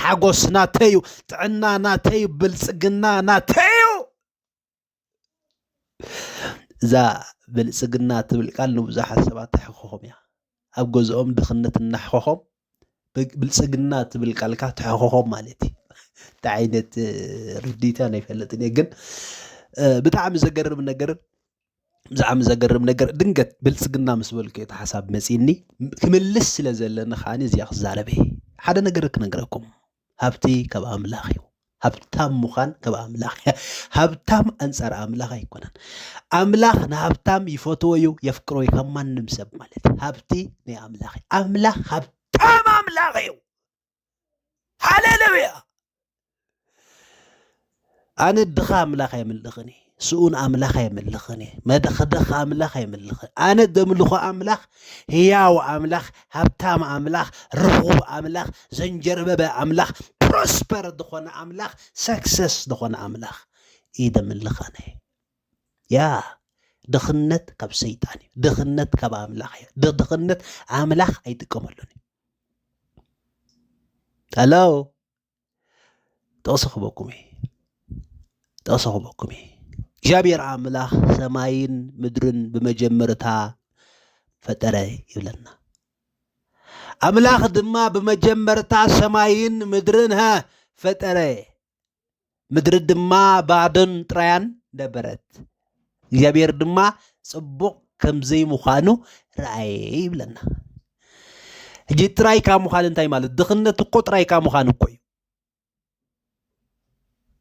ሓጎስ ናተይ እዩ፣ ጥዕና ናተይ እዩ፣ ብልፅግና ናተይ እዩ። እዛ ብልፅግና ትብል ቃል ንብዙሓት ሰባት ተሕኮኾም እያ። ኣብ ገዝኦም ድኽነት እናሕኮኾም ብልፅግና ትብል ቃልካ ተሕኮኾም ማለት እዩ። እንታይ ዓይነት ርዲኢት እያ ኣይፈልጥን እየ ግን ብጣዕሚ ዘገርም ነገር ብዛዕሚ ዘገርም ነገር ድንገት ብልጽግና ምስ በልኩ እቲ ሓሳብ መጺኒ ክምልስ ስለ ዘለኒ ከዓ እዚኣ ክዛረበ ሓደ ነገር ክነግረኩም ሃብቲ ካብ ኣምላኽ እዩ ሃብታም ምዃን ካብ ኣምላኽ እያ ሃብታም ኣንጻር ኣምላኽ ኣይኮነን ኣምላኽ ንሃብታም ይፈትዎ እዩ የፍቅሮ እዩ ካብ ማንም ሰብ ማለት ሃብቲ ናይ ኣምላኽ እዩ ኣምላኽ ሃብታም ኣምላኽ እዩ ሃሌሉያ ኣነ ድኻ ኣምላኽ ኣይምልኽን እየ ስኡን ኣምላኽ ኣይምልኽን እየ መደኽደኽ ኣምላኽ ኣይምልኽን ኣነ ደምልኾ ኣምላኽ ህያው ኣምላኽ ሃብታም ኣምላኽ ርኹብ ኣምላኽ ዘንጀርበበ ኣምላኽ ፕሮስፐር ዝኾነ ኣምላኽ ሰክሰስ ዝኾነ ኣምላኽ እዩ ደምልኽ ኣነ ያ ድኽነት ካብ ሰይጣን እዩ ድኽነት ካብ ኣምላኽ እዩ ድኽነት ኣምላኽ ኣይጥቀመሉን እዩ ኣላ ጥቕሲ ክበኩም እዩ ጥቕሲ ክበኩም እዩ እግዚኣብሔር ኣምላኽ ሰማይን ምድርን ብመጀመርታ ፈጠረ ይብለና ኣምላኽ ድማ ብመጀመርታ ሰማይን ምድርን ሃ ፈጠረ ምድሪ ድማ ባዶን ጥራያን ነበረት እግዚኣብሔር ድማ ጽቡቕ ከምዘይ ምዃኑ ረኣየ ይብለና እጂ ጥራይ ካብ ምዃን እንታይ ማለት ድኽነት እኮ ጥራይ ካብ ምዃን እኮ እዩ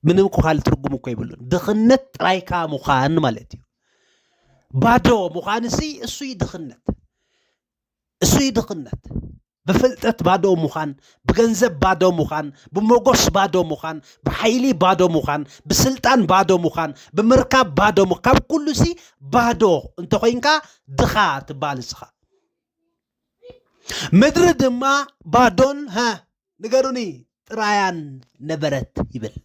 ምንም እኮ ካልእ ትርጉም እኮ ይብሉን ድኽነት ጥራይ ካብ ምዃን ማለት እዩ ባዶ ምዃን እሱ እዩ ድኽነት እሱ እዩ ድኽነት ብፍልጠት ባዶ ምዃን፣ ብገንዘብ ባዶ ምዃን፣ ብሞጎስ ባዶ ምዃን፣ ብሓይሊ ባዶ ምዃን፣ ብስልጣን ባዶ ምዃን፣ ብምርካብ ባዶ ምዃን፣ ካብ ኩሉ ሲ ባዶ እንተኾይንካ ድኻ ትበሃል እስኻ። ምድሪ ድማ ባዶን ሀ ንገሩኒ ጥራያን ነበረት ይብል።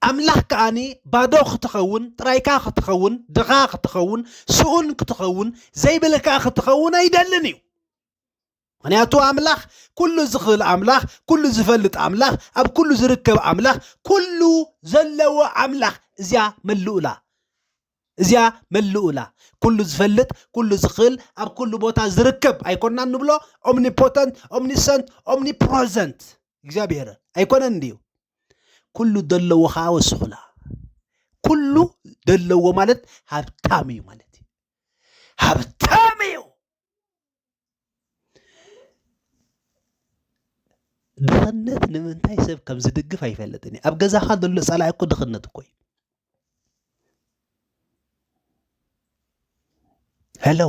ኣምላኽ ከኣኒ ባዶ ክትኸውን ጥራይካ ክትኸውን ድኻ ክትኸውን ስኡን ክትኸውን ዘይብልካ ክትኸውን ኣይደልን እዩ። ምክንያቱ ኣምላኽ ኩሉ ዝኽእል ኣምላኽ ኩሉ ዝፈልጥ ኣምላኽ ኣብ ኩሉ ዝርከብ ኣምላኽ ኩሉ ዘለዎ ኣምላኽ እዚኣ መልኡላ እዚኣ መሉኡላ፣ ኩሉ ዝፈልጥ፣ ኩሉ ዝኽእል፣ ኣብ ኩሉ ቦታ ዝርከብ ኣይኮናን ንብሎ? Omnipotent፣ Omniscient፣ Omnipresent እግዚኣብሄር ኣይኮነን ድዩ? ኩሉ ደለዎ ከኣ ወስኹላ። ኩሉ ደለዎ ማለት ሃብታም እዩ ማለት እዩ። ሃብታም እዩ! ድኽነት ንምንታይ ሰብ ከም ዝድግፍ ኣይፈልጥን እዩ ኣብ ገዛኻ ዘሎ ጸላኢ እኮ ድኽነት እኮ እዩ ሄሎ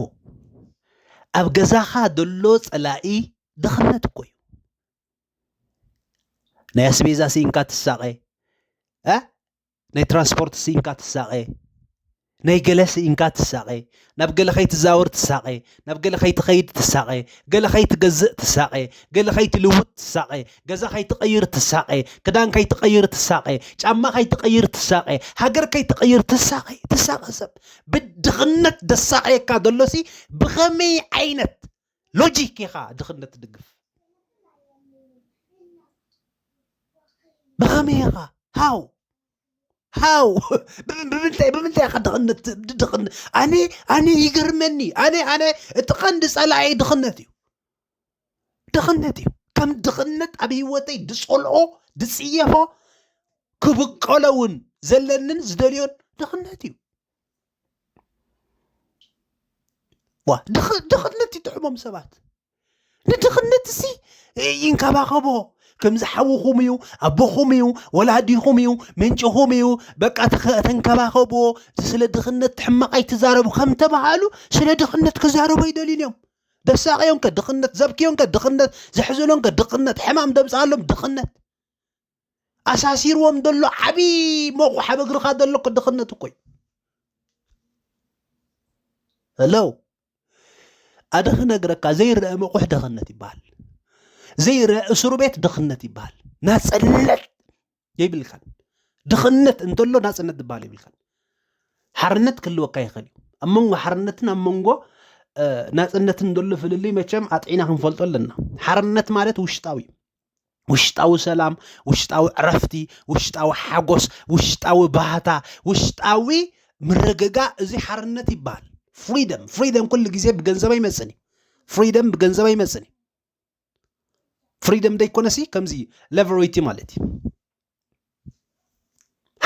ኣብ ገዛኻ ዘሎ ጸላኢ ድኽነት እኮ እዩ ናይ ኣስቤዛ ስኢንካ ትሳቐ ናይ ትራንስፖርት ስኢንካ ትሳቐ ናይ ገለ ስኢንካ ትሳቐ ናብ ገለ ከይትዛወር ትሳቐ ናብ ገለ ከይትኸይድ ትሳቐ ገለ ከይትገዝእ ትሳቐ ገለ ከይትልውጥ ትሳቐ ገዛ ከይትቐይር ትሳቐ ክዳን ከይትቐይር ትሳቐ ጫማ ከይትቐይር ትሳቐ ሃገር ከይትቐይር ትሳቐ ትሳቐ ሰብ ብድኽነት ደሳቐየካ ዘሎሲ ብኸመይ ዓይነት ሎጂክ ኢኻ ድኽነት ትድግፍ ብኸመይ ኢኻ ሃው ሃው ብምንታይ ብምንታይ ኢኻ ድኽነት ድኽነት ኣነ ኣነ ይገርመኒ ኣነ ኣነ እቲ ቀንዲ ጸላኢ ድኽነት እዩ ድኽነት እዩ ከም ድኽነት ኣብ ህይወተይ ድጸልኦ ድጽየፎ ክብቀሎ እውን ዘለንን ዝደልዮን ድኽነት እዩ ዋ ድኽነት ይጥዕሞም ሰባት ንድኽነት እሲ ይንከባኸቦ ከምዚ ሓውኹም እዩ ኣቦኹም እዩ ወላዲኹም እዩ ምንጭኹም እዩ በቃ ተንከባኸብዎ ስለ ድኽነት ሕማቕ ኣይትዛረቡ ከም ተባሃሉ ስለ ድኽነት ክዛረቡ ኣይደልዩን እዮም ደሳቂዮንከ ድኽነት ዘብክዮንከ ድኽነት ዘሕዝኖንከ ድኽነት ሕማም ደምፅኣሎም ድኽነት ኣሳሲርዎም ዘሎ ዓብዪ መቑሕ ኣብ እግርኻ ዘሎ እኮ ድኽነት እኮ እዩ ሄሎ ኣደ ክነግረካ ዘይረአ መቑሕ ድኽነት ይበሃል ዘይረአ እስሩ ቤት ድኽነት ይበሃል ናፅነት የብልካን ድኽነት እንተሎ ናፅነት ዝበሃል የብልካን ሓርነት ክህልወካ ይኽእል እዩ ኣብ መንጎ ሓርነትን ኣብ መንጎ ናፅነትን ዘሎ ፍልልይ መቸም ኣጥዒና ክንፈልጦ ኣለና ሓርነት ማለት ውሽጣዊ እዩ ውሽጣዊ ሰላም፣ ውሽጣዊ ዕረፍቲ፣ ውሽጣዊ ሓጎስ፣ ውሽጣዊ ባህታ፣ ውሽጣዊ ምርግጋእ እዚ ሓርነት ይበሃል። ፍሪደም ፍሪደም ኩሉ ግዜ ብገንዘብ ኣይመፅን እዩ። ፍሪደም ብገንዘብ ኣይመፅን እዩ። ፍሪደም ደይኮነሲ ከምዚ ሌቨሬቲ ማለት እዩ።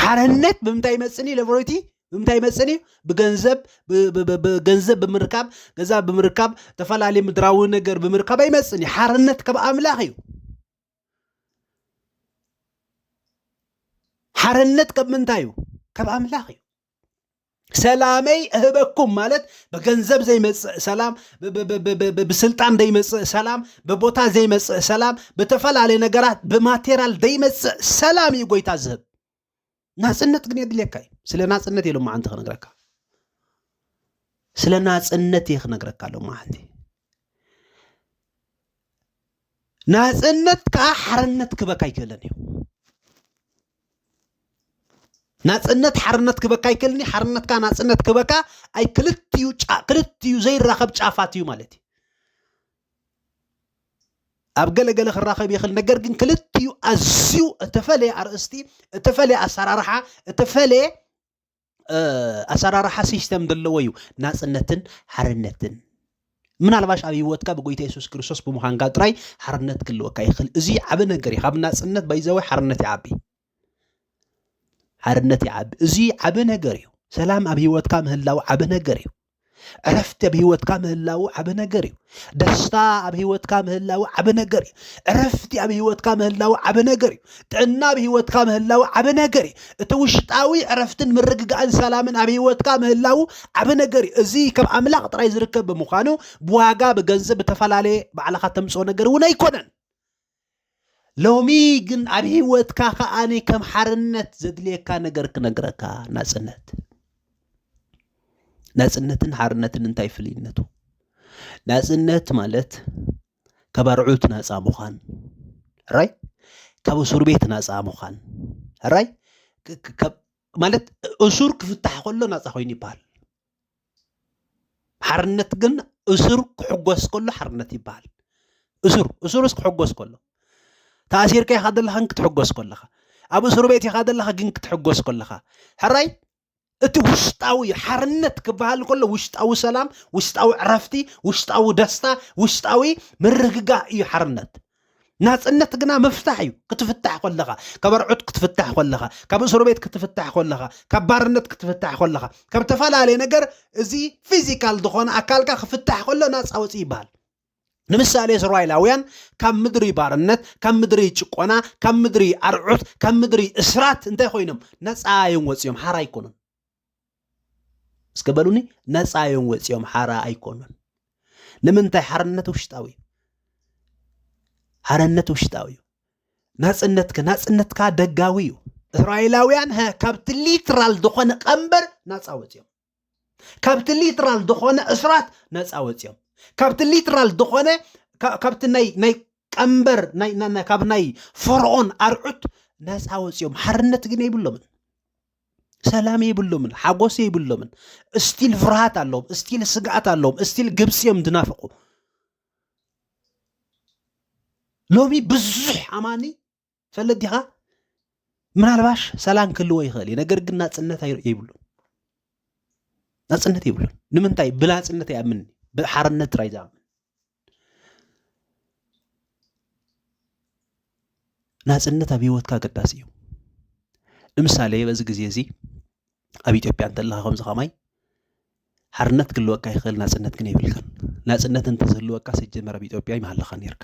ሓርነት ብምንታይ ይመፅን እዩ ሌቦሬቲ ብምንታይ ይመፅን እዩ ብገንዘብ ገንዘብ ብምርካብ ገዛ ብምርካብ ዝተፈላለዩ ምድራዊ ነገር ብምርካብ ኣይመፅን እዩ ሓርነት ካብ ኣምላኽ እዩ ሓርነት ካብ ምንታይ እዩ ካብ ኣምላኽ እዩ ሰላመይ እህበኩም ማለት ብገንዘብ ዘይመፅእ ሰላም፣ ብስልጣን ዘይመፅእ ሰላም፣ ብቦታ ዘይመፅእ ሰላም፣ ብተፈላለዩ ነገራት ብማቴሪያል ዘይመፅእ ሰላም እዩ ጎይታ ዝህብ። ናፅነት ግን የድልየካ እዩ። ስለ ናፅነት እዩ ሎማዓንቲ ክነግረካ፣ ስለ ናፅነት እየ ክነግረካ ሎማዓንቲ። ናፅነት ከዓ ሓርነት ክበካ ኣይክእለን እዩ። ናጽነት ሓርነት ክበካ ኣይክእልኒ ሓርነትካ ናጽነት ክበካ ኣይ ክልትዩ ክልትዩ ዘይራኸብ ጫፋት እዩ ማለት እዩ ኣብ ገለገለ ክራኸብ ይኽእል ነገር ግን ክልትዩ ኣዝዩ እተፈለየ ኣርእስቲ እተፈለየ ኣሰራርሓ እተፈለየ ኣሰራርሓ ሲስተም ዘለዎ እዩ ናፅነትን ሓርነትን ምናልባሽ ኣብ ህይወትካ ብጎይታ የሱስ ክርስቶስ ብምዃንካ ጥራይ ሓርነት ክልወካ ይኽእል እዚ ዓብ ነገር እዩ ካብ ናፅነት ባይዛዊ ሓርነት ይዓቢ ሓርነት ይዓቢ እዚ ዓብ ነገር እዩ ሰላም ኣብ ህይወትካ ምህላው ዓብ ነገር እዩ ዕረፍቲ ኣብ ህይወትካ ምህላው ዓበ ነገር እዩ ደስታ ኣብ ህይወትካ ምህላው ዓበ ነገር እዩ ዕረፍቲ ኣብ ህይወትካ ምህላው ዓበ ነገር እዩ ጥዕና ኣብ ህይወትካ ምህላው ዓበ ነገር እዩ እቲ ውሽጣዊ ዕረፍትን ምርግጋእን ሰላምን ኣብ ህይወትካ ምህላው ዓበ ነገር እዩ እዚ ካብ ኣምላኽ ጥራይ ዝርከብ ብምዃኑ ብዋጋ ብገንዘብ ብተፈላለየ ባዕልኻ ተምፅኦ ነገር እውን ኣይኮነን ሎሚ ግን ኣብ ሂወትካ ከኣ ከም ሓርነት ዘድልየካ ነገር ክነግረካ ናጽነት ናጽነትን ሓርነትን እንታይ ፍልይነቱ? ናጽነት ማለት ካብ ኣርዑት ናጻ ምዃን ራይ ካብ እሱር ቤት ናጻ ምዃን ራይ ማለት እሱር ክፍታሕ ከሎ ናጻ ኮይኑ ይበሃል። ሓርነት ግን እሱር ክሕጎስ ከሎ ሓርነት ይበሃል እሱር እሱርስ ክሕጎስ ከሎ ተኣሲርካ ኢኻ ዘለኻ ግን ክትሕጎስ ከለኻ ኣብ እሱር ቤት ኢኻ ዘለኻ ግን ክትሕጎስ ከለኻ ሕራይ እቲ ውሽጣዊ ሓርነት ክበሃል ከሎ ውሽጣዊ ሰላም ውሽጣዊ ዕረፍቲ ውሽጣዊ ደስታ ውሽጣዊ ምርግጋእ እዩ ሓርነት ናጽነት ግና ምፍታሕ እዩ ክትፍታሕ ኮለኻ ካብ ኣርዑት ክትፍታሕ ኮለኻ ካብ እስሩ ቤት ክትፍታሕ ኮለኻ ካብ ባርነት ክትፍታሕ ኮለኻ ካብ ተፈላለየ ነገር እዚ ፊዚካል ዝኾነ ኣካልካ ክፍታሕ ኮሎ ናጻ ወፂ ይበሃል ንምሳሌ እስራኤላውያን ካብ ምድሪ ባርነት ካብ ምድሪ ጭቆና ካብ ምድሪ ኣርዑት ካብ ምድሪ እስራት እንታይ ኮይኖም ነፃ እዮም ወፂኦም ሓራ ኣይኮኑን እስከ በሉኒ ነፃ እዮም ወፂኦም ሓራ ኣይኮኑን ንምንታይ ሓርነት ውሽጣዊ እዩ ሓርነት ውሽጣዊ እዩ ናፅነትከ ናፅነትካ ደጋዊ እዩ እስራኤላውያን ካብቲ ሊትራል ዝኾነ ቀንበር ናፃ ወፂኦም ካብቲ ሊትራል ዝኾነ እስራት ነፃ ወፂኦም ካብቲ ሊትራል ዝኾነ ካብቲ ናይ ቀንበር ካብ ናይ ፈርዖን ኣርዑት ነፃ ወፂኦም ሓርነት ግን የብሎምን ሰላም የብሎምን፣ ሓጎስ የብሎምን። እስቲል ፍርሃት ኣለዎም፣ እስቲል ስግኣት ኣለዎም፣ እስቲል ግብፂ እዮም ዝናፍቁ። ሎሚ ብዙሕ ኣማኒ ፈለዲኻ ምናልባሽ ሰላም ክህልዎ ይኽእል እዩ፣ ነገር ግን ናፅነት የብሉን፣ ናፅነት የብሉን። ንምንታይ ብላፅነት ይኣምን፣ ብሓርነት ጥራይ ዝኣምን ናፅነት ኣብ ሂወትካ ኣገዳሲ እዩ ንምሳሌ በዚ ግዜ እዚ ኣብ ኢትዮጵያ እንተለኻ ከምዚ ከማይ ሓርነት ክህልወካ ይኽእል ናፅነት ግን የብልካን ናፅነት እንተዝህልወካ ስጀመር ኣብ ኢትዮጵያ ይምሃለኻ ነርካ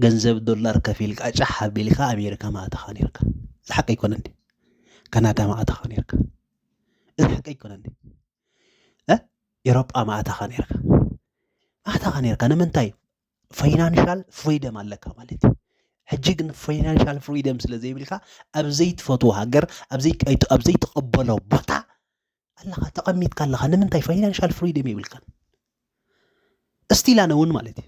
ገንዘብ ዶላር ከፊልካ ጫሕ ኣቢልካ ኣሜሪካ ምኣተኻ ነርካ እዚ ሓቂ ኣይኮነን ካናዳ ምኣተኻ ነርካ እዚ ሓቂ ኣይኮነን ኤሮጳ ማእታኻ ነርካ ማእታኻ ነርካ ንምንታይ ፋይናንሻል ፍሪደም ኣለካ ማለት እዩ ሕጂ ግን ፋይናንሻል ፍሪደም ስለ ዘይብልካ ኣብ ዘይትፈትዎ ሃገር ኣብ ዘይትቐበሎ ቦታ ኣለኻ ተቐሚጥካ ኣለኻ ንምንታይ ፋይናንሻል ፍሪደም የብልካን እስቲላነ እውን ማለት እዩ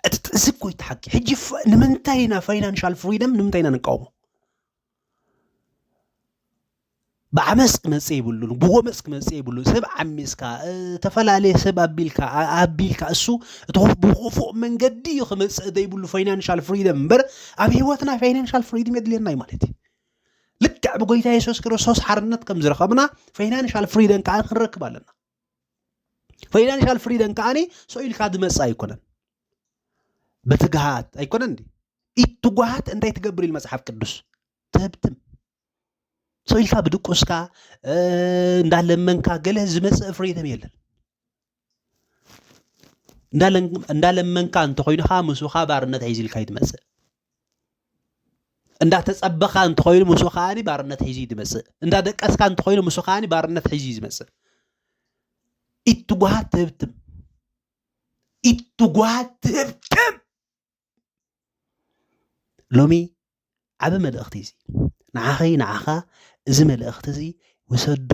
እቲ እዚ እኮ እቲ ሓቂ ሕጂ ንምንታይ ኢና ፋይናንሻል ፍሪደም ንምንታይ ኢና ንቃወሞ ብዓመፅ ክመፅእ የብሉን ብጎመፅ ክመፅእ የብሉን ሰብ ዓሚፅካ ዝተፈላለየ ሰብ ኣቢልካ ኣቢልካ እሱ እቲ ብክፉእ መንገዲ እዩ ክመፅእ ዘይብሉ ፋይናንሻል ፍሪደም እምበር ኣብ ሂወትና ፋይናንሻል ፍሪደም የድልየና እዩ ማለት እዩ ልክዕ ብጎይታ የሱስ ክርስቶስ ሓርነት ከም ዝረኸብና ፋይናንሻል ፍሪደም ከዓ ክንረክብ ኣለና ፋይናንሻል ፍሪደን ከዓኒ ሰው ኢልካ ዝመፅእ ኣይኮነን በትግሃት ኣይኮነን እንዲ ኢት ትጓሃት እንታይ ትገብር ኢል መፅሓፍ ቅዱስ ተህብትም ሰው ኢልካ ብድቁስካ እንዳለመንካ ገለ ዝመፅእ ፍሪደም የለን እንዳለመንካ እንተኮይንካ ምስኻ ባርነት ሒዝልካ ይትመፅእ እንዳተጸበኻ እንተኾይኑ ምስ ከዓኒ ባርነት ሒዙ እዩ ዝመጽእ እንዳደቀስካ እንተኾይኑ ምስ ከዓኒ ባርነት ሒዙ እዩ ዝመጽእ ኢትጓሃት ትህብትም ኢትጓሃት ትህብትም ሎሚ ዓብ መልእኽቲ እዚ ንዓኸይ ንዓኻ እዚ መልእኽቲ እዚ ውሰዶ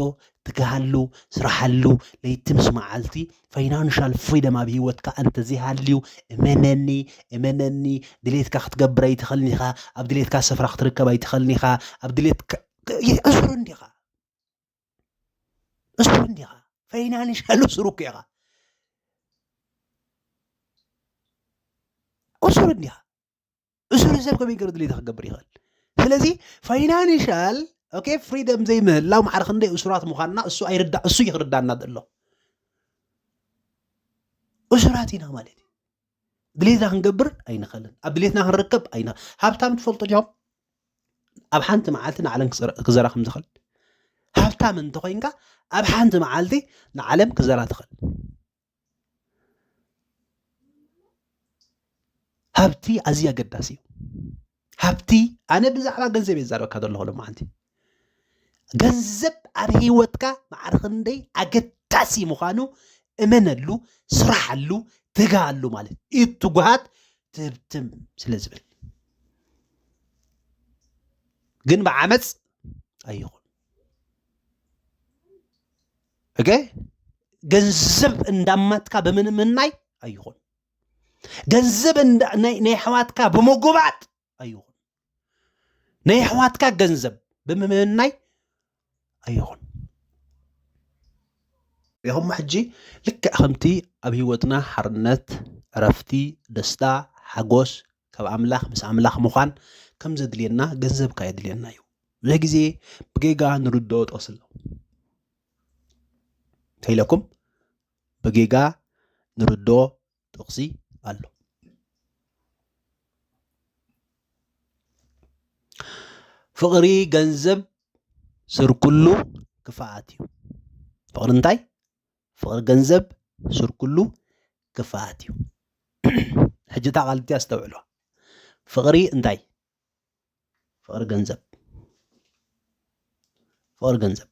ትግሃሉ ስራሓሉ ለይቲ ምስ መዓልቲ ፋይናንሻል ፍሪደም ኣብ ሂወትካ እንተዘይሃልዩ እመነኒ እመነኒ ድሌትካ ክትገብር ኣይትኽእልን ኢኻ ኣብ ድሌትካ ስፍራ ክትርከብ ኣይትኽእልን ኢኻ ኣብ ድሌትካ ዕሱር እንዲኻ ዕሱር እንዲኻ ፋይናንሻል ዕሱር እኮ ኢኻ ዕሱር እንዲኻ እሱሩ ሰብ ከመይ ገይሩ ድሌታ ክገብር ይኽእል ስለዚ ፋይናንሻል ኦኬ ፍሪደም ዘይምህላው ማዕረ ክንደይ እሱራት ምዃንና እሱ ኣይርዳ እሱ እዩ ክርዳና ዘሎ እሱራት ኢና ማለት እዩ ድሌትና ክንገብር ኣይንኽእልን ኣብ ድሌትና ክንርከብ ኣይን ሃብታም ትፈልጡ ዲኹም ኣብ ሓንቲ መዓልቲ ንዓለም ክዘራ ከም ዝኽእል ሃብታም እንተኮይንካ ኣብ ሓንቲ መዓልቲ ንዓለም ክዘራ ትኽእል ሃብቲ ኣዝዩ ኣገዳሲ እዩ ሃብቲ ኣነ ብዛዕባ ገንዘብ እየ ዛረበካ ዘለኹ ሎማዓንቲ ገንዘብ ኣብ ሂወትካ ማዕረ ክንደይ ኣገዳሲ ምዃኑ እመነሉ ስራሓሉ ትግሃሉ ማለት እዩ ትጉሃት ትህብትም ስለ ዝብል ግን ብዓመፅ ኣይኹን እገ ገንዘብ እንዳማትካ ብምንምናይ ኣይኹን ገንዘብ ናይ ኣሕዋትካ ብምጉባጥ ኣይኹን ናይ ኣሕዋትካ ገንዘብ ብምምናይ ኣይኹን ይኹም ሕጂ ልክዕ ከምቲ ኣብ ህይወትና ሓርነት ዕረፍቲ ደስታ ሓጎስ ካብ ኣምላኽ ምስ ኣምላኽ ምዃን ከም ዘድልየና ገንዘብካ የድልየና እዩ ብዙሕ ግዜ ብጌጋ ንርድኦ ጠስሎ ከይለኩም ብጌጋ ንርድኦ ጥቕሲ ኣሎ ፍቕሪ ገንዘብ ስርኩሉ ክፍኣት እዩ ፍቕሪ እንታይ ፍቕሪ ገንዘብ ሱር ኩሉ ክፍኣት እዩ። ሕጂ እታ ቃል እቲኣ ኣስተውዕሎ። ፍቕሪ እንታይ? ፍቕሪ ገንዘብ ፍቕሪ ገንዘብ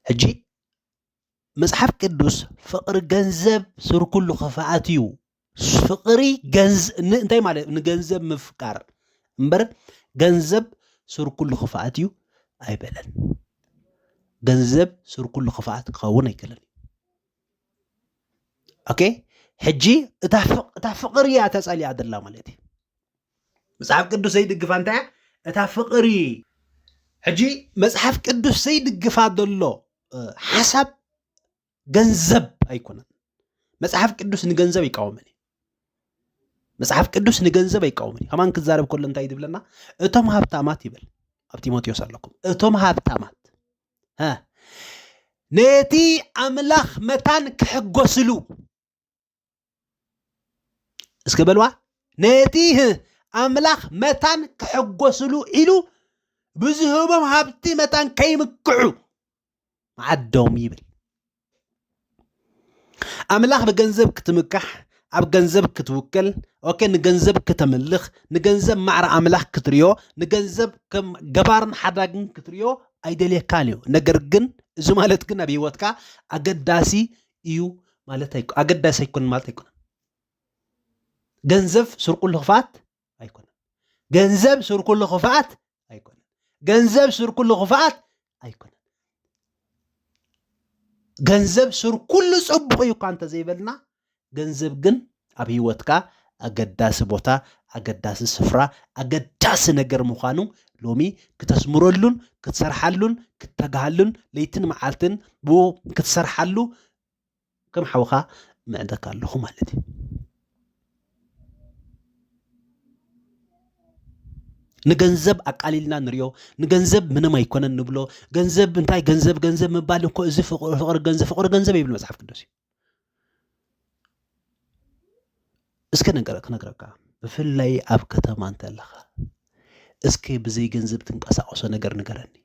ሕጂ መጽሓፍ ቅዱስ ፍቕሪ ገንዘብ ሱር ኩሉ ክፍኣት እዩ ፍቅሪ እንታይ ማለት ንገንዘብ ምፍቃር እምበር ገንዘብ ሱር ኩሉ ክፍኣት እዩ ኣይበለን። ገንዘብ ሱር ኩሉ ክፍኣት ክኸውን ኣይክእልን እዩ። ኦኬ ሕጂ እታ ፍቅሪ እያ ተጸሊያ ደላ ማለት እዩ። መጽሓፍ ቅዱስ ዘይድግፋ እንታይ እያ? እታ ፍቅሪ ሕጂ መጽሓፍ ቅዱስ ዘይድግፋ ዘሎ ሓሳብ ገንዘብ ኣይኮነን። መጽሓፍ ቅዱስ ንገንዘብ ይቃወመን እዩ መጽሓፍ ቅዱስ ንገንዘብ ኣይቃወምን እዩ ከማን ክዛረብ ከሎ እንታይ ዝብለና እቶም ሃብታማት ይብል ኣብ ጢሞቴዎስ ኣለኩም እቶም ሃብታማት ነቲ ኣምላኽ መታን ክሕጎስሉ እስከ በልዋ ነቲ ኣምላኽ መታን ክሕጎስሉ ኢሉ ብዝህቦም ሃብቲ መታን ከይምክዑ መዓዶም ይብል ኣምላኽ ብገንዘብ ክትምካሕ ኣብ ገንዘብ ክትውክል ኦኬ ንገንዘብ ክተምልኽ ንገንዘብ ማዕረ ኣምላኽ ክትርዮ ንገንዘብ ከም ገባርን ሓዳግን ክትርዮ ኣይደልየካን እዩ ነገር ግን እዚ ማለት ግን ኣብ ሂወትካ ኣገዳሲ እዩ ማለት ኣይኮነ ኣገዳሲ ኣይኮነን ማለት ኣይኮነን ገንዘብ ስርቁሉ ክፍኣት ኣይኮነን ገንዘብ ስርኩሉ ክፍኣት ኣይኮነን ገንዘብ ስርኩሉ ክፍኣት ኣይኮነን ገንዘብ ስርኩሉ ፅቡቅ እዩ እኳ እንተዘይበልና ገንዘብ ግን ኣብ ህይወትካ ኣገዳሲ ቦታ፣ ኣገዳሲ ስፍራ፣ ኣገዳሲ ነገር ምዃኑ ሎሚ ክተስምረሉን ክትሰርሓሉን ክትተግሃሉን ለይትን መዓልትን ብኡ ክትሰርሓሉ ከም ሓውኻ ምዕደካ ኣለኹ ማለት እዩ ንገንዘብ ኣቃሊልና ንሪኦ ንገንዘብ ምንም ኣይኮነን ንብሎ ገንዘብ እንታይ ገንዘብ ገንዘብ ምባል እኮ እዚ ፍቅሪ ገንዘብ ፍቅሪ ገንዘብ ይብል መፅሓፍ ቅዱስ እዩ እስከ ነገር ክነግረካ ብፍላይ ኣብ ከተማ እንተለኻ እስከ ብዘይ ገንዘብ ትንቀሳቀሶ ነገር ንገረኒ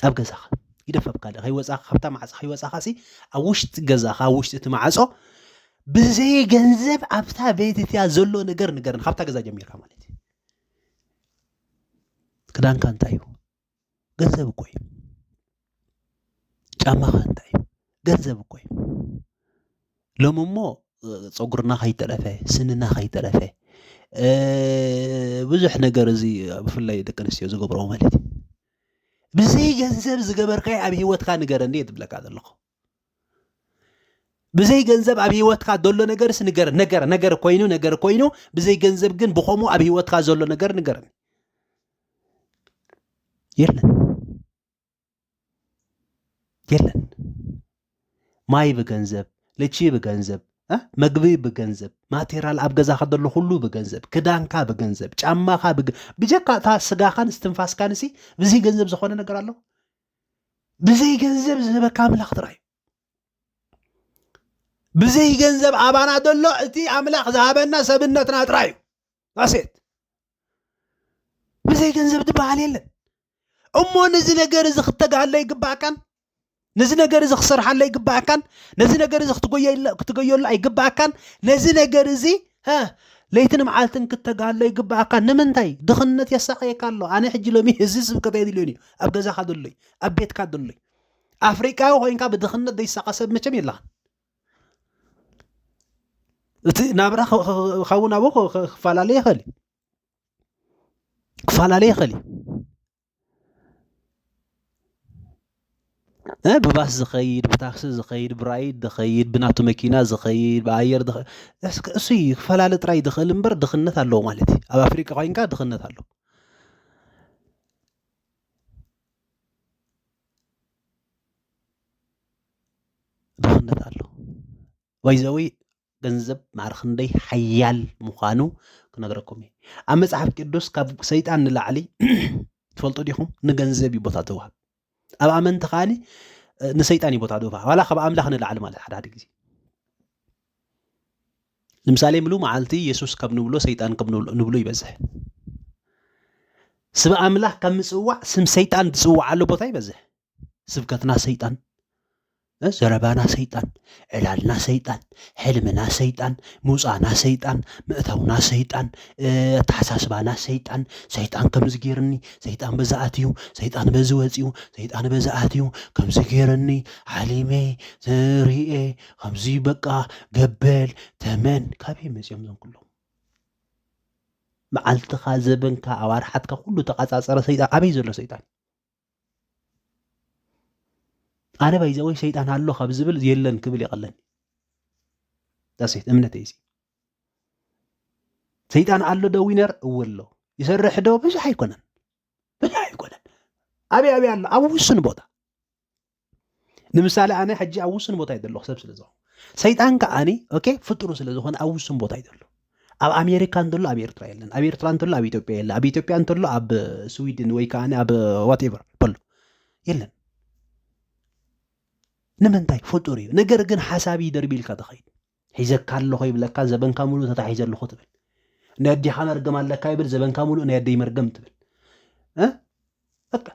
ኣብ ገዛኻ ይደፈብካ ደ ከይወፃኻ ካብታ ማዕፆ ከይወፃኻ ሲ ኣብ ውሽጢ ገዛኻ ኣብ ውሽጢ እቲ ማዕፆ ብዘይ ገንዘብ ኣብታ ቤት እትያ ዘሎ ነገር ንገረኒ ካብታ ገዛ ጀሚርካ ማለት እዩ ክዳንካ እንታይ እዩ ገንዘብ እኮ እዩ። ጫማኻ እንታይ እዩ? ገንዘብ እኮ እዩ። ሎሚ እሞ ፀጉርና ከይተረፈ ስንና ከይተረፈ ብዙሕ ነገር እዚ ብፍላይ ደቂ ኣንስትዮ ዝገብረኦ ማለት እዩ ብዘይ ገንዘብ ዝገበርካዮ ኣብ ሂወትካ ንገረኒ እየ ዝብለካ ዘለኹ ብዘይ ገንዘብ ኣብ ሂወትካ ዘሎ ነገርስ ንገር ነገር ነገር ኮይኑ ነገር ኮይኑ ብዘይ ገንዘብ ግን ብኸምኡ ኣብ ሂወትካ ዘሎ ነገር ንገርኒ የለን የለን ማይ ብገንዘብ ልቺ ብገንዘብ መግቢ ብገንዘብ ማቴሪያል ኣብ ገዛኻ ዘሎ ኩሉ ብገንዘብ ክዳንካ ብገንዘብ ጫማኻ ብጀካ እታ ስጋኻን ስትንፋስካንሲ ብዘይ ገንዘብ ዝኾነ ነገር ኣሎ ብዘይ ገንዘብ ዝህበካ ኣምላኽ ጥራይ ብዘይ ገንዘብ ኣባና ዘሎ እቲ ኣምላኽ ዝሃበና ሰብነትና ጥራይ እዩ ኣሴት ብዘይ ገንዘብ ዝበሃል የለን እሞ ነዚ ነገር እዚ ክተግሃለ ይግባእካን ነዚ ነገር እዚ ክሰርሓለ ይግባእካን ነዚ ነገር እዚ ክትገየሉ ኣይግባእካን ነዚ ነገር እዚ ለይትን መዓልትን ክተግሃለ ይግባእካ ንምንታይ ድኽነት የሳቀየካ ኣሎ ኣነ ሕጂ ሎሚ እዚ ስብከት የድልዮን እዩ ኣብ ገዛኻ ዘሎ እዩ ኣብ ቤትካ ዘሎ እዩ ኣፍሪቃዊ ኮይንካ ብድኽነት ዘይሳቐ ሰብ መቸም የለኻን እቲ ናብራ ካብን ኣብኡ ክፈላለ ይኽእል እዩ ክፈላለ ይኽእል እዩ ብባስ ዝኸይድ ብታክሲ ዝኸይድ ብራይድ ዝኸይድ ብናቱ መኪና ዝኸይድ ብኣየር እሱ እዩ ክፈላለ ጥራይ ዝኽእል እምበር ድኽነት ኣለዎ ማለት እዩ ኣብ ኣፍሪቃ ኮይንካ ድኽነት ኣለዎ ድኽነት ኣሎ ባይዘዊ ገንዘብ ማዕረ ክንደይ ሓያል ምዃኑ ክነግረኩም እዩ ኣብ መፅሓፍ ቅዱስ ካብ ሰይጣን ንላዕሊ ትፈልጡ ዲኹም ንገንዘብ እዩ ቦታ ተዋህብ ኣብ ኣመንቲ ከዓኒ ንሰይጣን እዩ ቦታ ድባ ዋላ ካብ ኣምላኽ ንላዕሊ ማለት ሓደ ሓደ ግዜ ንምሳሌ ምሉ መዓልቲ የሱስ ከም ንብሎ ሰይጣን ከም ንብሎ ይበዝሕ ስብ ኣምላኽ ከም ምፅዋዕ ስም ሰይጣን ዝፅዋዓሉ ቦታ ይበዝሕ ስብከትና ሰይጣን ዘረባና ሰይጣን፣ ዕላልና ሰይጣን፣ ሕልምና ሰይጣን፣ ምውጻእና ሰይጣን፣ ምእታውና ሰይጣን፣ ኣተሓሳስባና ሰይጣን፣ ሰይጣን ከምዚ ገይርኒ፣ ሰይጣን በዚ ኣትዩ፣ ሰይጣን በዚ ወጺኡ፣ ሰይጣን በዚ ኣትዩ፣ ከምዚ ገይርኒ፣ ሓሊመ፣ ርእየ፣ ከምዚ በቃ ገበል፣ ተመን፣ ካበይ መጺኦም እዞም ኩሎም? መዓልትኻ ዘበንካ ኣዋርሓትካ ኩሉ ተቛጻጸረ ሰይጣን ኣበይ ዘሎ ሰይጣን ኣነ ባይዘወይ ሰይጣን ኣሎ ካብ ዝብል የለን ክብል ይቐለኒ ዳሴት እምነት እዚ ሰይጣን ኣሎ ዶ ዊነር እወ ኣሎ ይሰርሕ ዶ ብዙሕ ኣይኮነን ብዙሕ ኣይኮነን ኣብይ ኣብይ ኣሎ ኣብ ውሱን ቦታ ንምሳሌ ኣነ ሕጂ ኣብ ውሱን ቦታ እዩ ዘለኹ ሰብ ስለ ዝኾ ሰይጣን ከዓኒ ኦኬ ፍጡሩ ስለ ዝኾነ ኣብ ውሱን ቦታ እዩ ዘሎ ኣብ ኣሜሪካ እንተሎ ኣብ ኤርትራ የለን ኣብ ኤርትራ እንተሎ ኣብ ኢትዮጵያ የለ ኣብ ኢትዮጵያ እንተሎ ኣብ ስዊድን ወይ ከዓ ኣብ ዋትኤቨር በሎ የለን ንምንታይ ፍጡር እዩ ነገር ግን ሓሳብ ይደርቢ ኢልካ ተኸይድ ሒዘካ ኣለኹ ይብለካ ዘበንካ ሙሉ ተታሒዘ ኣለኹ ትብል ናይ ኣዴኻ መርገም ኣለካ ይብል ዘበንካ ሙሉእ ናይ ኣደይ መርገም ትብል በቃ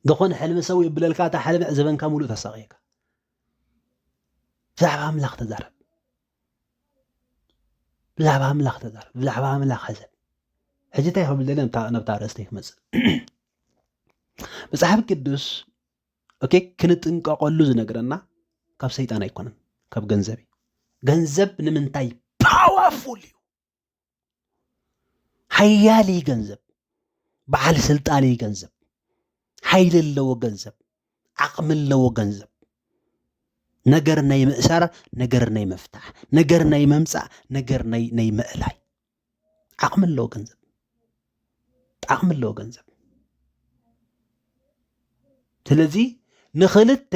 ዝኾነ ሕልሚ ሰው የብለልካ እታ ሕልሚ ዕዘበንካ ሙሉእ ተሳቕየካ ብዛዕባ ኣምላኽ ተዛረብ ብዛዕባ ኣምላኽ ተዛረብ ብዛዕባ ኣምላኽ ሕዘብ ሕጂ እንታይ ክብል ደለ ናብታ ርእስተይ ክመፅእ መፅሓፍ ቅዱስ ኦኬ ክንጥንቀቐሉ ዝነግረና ካብ ሰይጣን ኣይኮነን ካብ ገንዘብ እዩ ገንዘብ ንምንታይ ፓዋፉል እዩ ሓያል እዩ ገንዘብ በዓል ስልጣን እዩ ገንዘብ ሓይሊ ኣለዎ ገንዘብ ዓቕሚ ኣለዎ ገንዘብ ነገር ናይ ምእሳር ነገር ናይ ምፍታሕ ነገር ናይ ምምፃእ ነገር ናይ ናይ ምእላይ ዓቕሚ ኣለዎ ገንዘብ ዓቕሚ ኣለዎ ገንዘብ ስለዚ ንኽልተ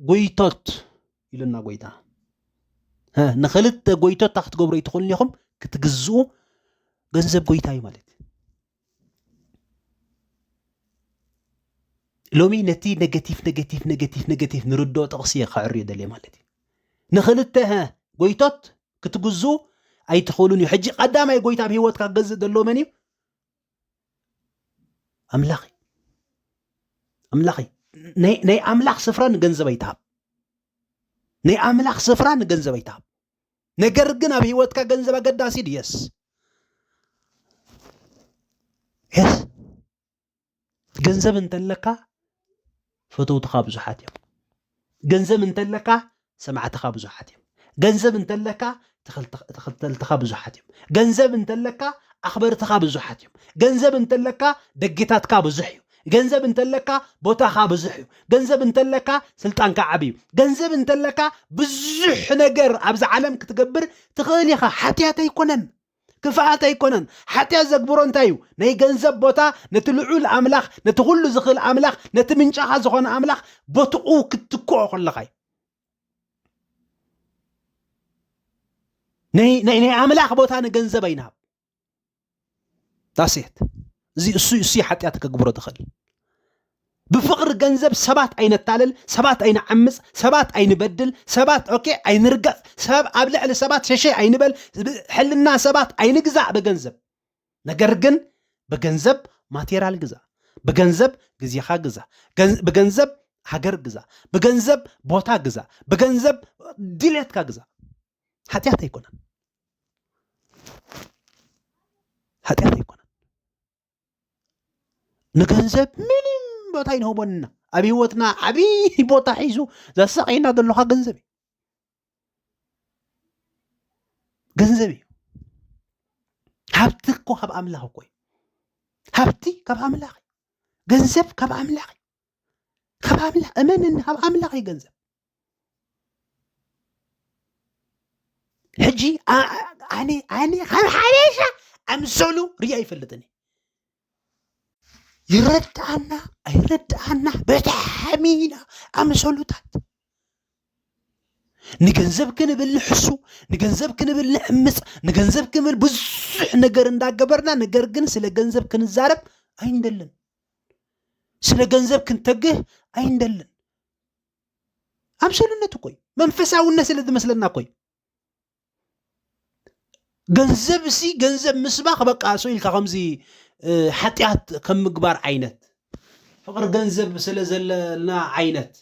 ጎይቶት ኢሉና ጎይታ ንክልተ ጎይቶ እታ ክትገብሩ ኣይትኽእሉ ኢኹም ክትግዝኡ ገንዘብ ጎይታ እዩ ማለት ሎሚ ነቲ ነገቲፍ ነገቲፍ ነገቲፍ ነገቲፍ ንርድኦ ጥቕሲ እየ ከዕርዮ ደልየ ማለት እዩ ንክልተ ጎይቶት ክትግዝኡ ኣይትኽእሉን እዩ ሕጂ ቀዳማይ ጎይታ ኣብ ሂወትካ ክገዝእ ደሎ መን እዩ ኣምላኽ ኣምላኽ ናይ ኣምላኽ ስፍራ ንገንዘብ ኣይትሃብ ናይ ኣምላኽ ስፍራ ንገንዘብ ኣይትሃብ ነገር ግን ኣብ ህይወትካ ገንዘብ ኣገዳሲ ድየስ የስ ገንዘብ እንተለካ ፈተውትኻ ብዙሓት እዮም። ገንዘብ እንተለካ ሰማዕትኻ ብዙሓት እዮም። ገንዘብ እንተለካ ተኸተልትኻ ብዙሓት እዮም። ገንዘብ እንተለካ ኣኽበርትኻ ብዙሓት እዮም። ገንዘብ እንተለካ ደጊታትካ ብዙሕ እዩ። ገንዘብ እንተለካ ቦታኻ ብዙሕ እዩ። ገንዘብ እንተለካ ስልጣንካ ዓብ እዩ። ገንዘብ እንተለካ ብዙሕ ነገር ኣብዚ ዓለም ክትገብር ትኽእል ኢኻ። ሓትያት ኣይኮነን። ክፍኣት ኣይኮነን። ሓጢኣት ዘግብሮ እንታይ እዩ? ናይ ገንዘብ ቦታ ነቲ ልዑል ኣምላኽ፣ ነቲ ኩሉ ዝኽእል ኣምላኽ፣ ነቲ ምንጫኻ ዝኾነ ኣምላኽ ቦትኡ ክትትክኦ ከለኻ እዩ። ናይ ናይ ናይ ኣምላኽ ቦታ ንገንዘብ ኣይንሃብ ዳሴት እዚ እሱ እሱ ሓጢኣት ከግብሮ ትኽእል ብፍቕሪ ገንዘብ ሰባት ኣይነታልል፣ ሰባት ኣይንዓምጽ፣ ሰባት ኣይንበድል፣ ሰባት ኦኬ ኣይንርገጽ፣ ሰብ ኣብ ልዕሊ ሰባት ሸሸይ ኣይንበል፣ ሕልና ሰባት ኣይንግዛእ ብገንዘብ። ነገር ግን ብገንዘብ ማቴራል ግዛእ፣ ብገንዘብ ግዜኻ ግዛእ፣ ብገንዘብ ሃገር ግዛእ፣ ብገንዘብ ቦታ ግዛእ፣ ብገንዘብ ድሌትካ ግዛእ። ሓጢኣት ኣይኮነን። ሓጢኣት ኣይኮነን። ንገንዘብ ምንም ቦታ ይንህቦንና ኣብ ሂወትና ዓብይ ቦታ ሒዙ ዘሳቀየና ዘለካ ገንዘብ እዩ ገንዘብ እዩ ሃብቲ እኮ ካብ ኣምላኽ እኮ እዩ ሃብቲ ካብ ኣምላኽ እዩ ገንዘብ ካብ ኣምላኽ እዩ ካብ ኣምላኽ እመነኒ ካብ ኣምላኽ እዩ ገንዘብ ሕጂ ኣነ ኣነ ካብ ሓበሻ ኣምሰሉ ርያ ይፈልጥኒ ይረድኣና ኣይረድኣና ብጣዕሚ ኢና ኣምሰሉታት ንገንዘብ ክንብል ንሕሱ ንገንዘብ ክንብል ንዕምፅ ንገንዘብ ክንብል ብዙሕ ነገር እንዳገበርና ነገር ግን ስለ ገንዘብ ክንዛረብ ኣይንደልን ስለ ገንዘብ ክንተግህ ኣይንደልን ኣምሰሉነት እኮ እዩ መንፈሳውነት ስለ ዝመስለና እኮ እዩ ገንዘብ እሲ ገንዘብ ምስባኽ በቃ ሰው ኢልካ ከምዚ ሓጢኣት ከም ምግባር ዓይነት ፍቅሪ ገንዘብ ስለ ዘለና ዓይነት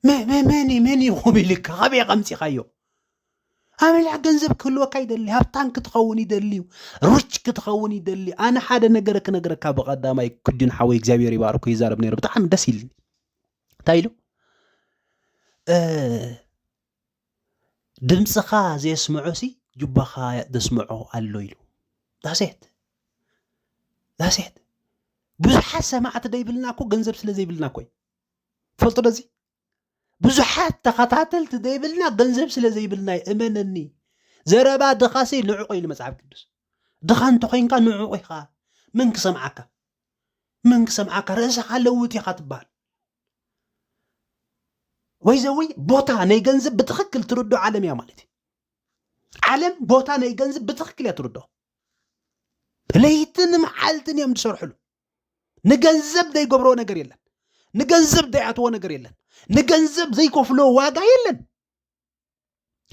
መን መን ይኹም ኢልካ ካበይ ከምፂኻዮ ኣመልዕ ገንዘብ ክህልወካ ይደሊ ሃብታም ክትኸውን ይደሊ እዩ ሩች ክትኸውን ይደሊ እዩ ኣነ ሓደ ነገር ክነግረካ ብቐዳማይ ክጁን ሓወይ እግዚኣብሔር ይባርኩ ይዛረብ ነይሩ ብጣዕሚ ደስ ኢልኒ እንታይ ኢሉ ድምጽኻ ዘየስምዖሲ ጁባኻ ዘስምዖ ኣሎ ኢሉ ዳሴት ዳሴት ብዙሓት ሰማዕቲ ዘይብልና እኮ ገንዘብ ስለ ዘይብልና እኮ ፈልጡ ደዚ ብዙሓት ተኸታተልቲ ዘይብልና ገንዘብ ስለ ዘይብልና እዩ እመነኒ ዘረባ ድኻሲ ንዕቑ ኢሉ መፅሓፍ ቅዱስ ድኻ እንተኮይንካ ንዕቑ ኢኻ መን ክሰምዓካ መን ክሰምዓካ ርእስኻ ለውጥ ኢኻ ትበሃል ወይ ዘዊ ቦታ ናይ ገንዘብ ብትክክል ትርዶ ዓለም እያ ማለት እዩ ዓለም ቦታ ናይ ገንዘብ ብትክክል እያ ትርዶ ለይትን መዓልትን እዮም ዝሰርሕሉ ንገንዘብ ዘይገብሮ ነገር የለን ንገንዘብ ዘይኣትዎ ነገር የለን ንገንዘብ ዘይከፍሎ ዋጋ የለን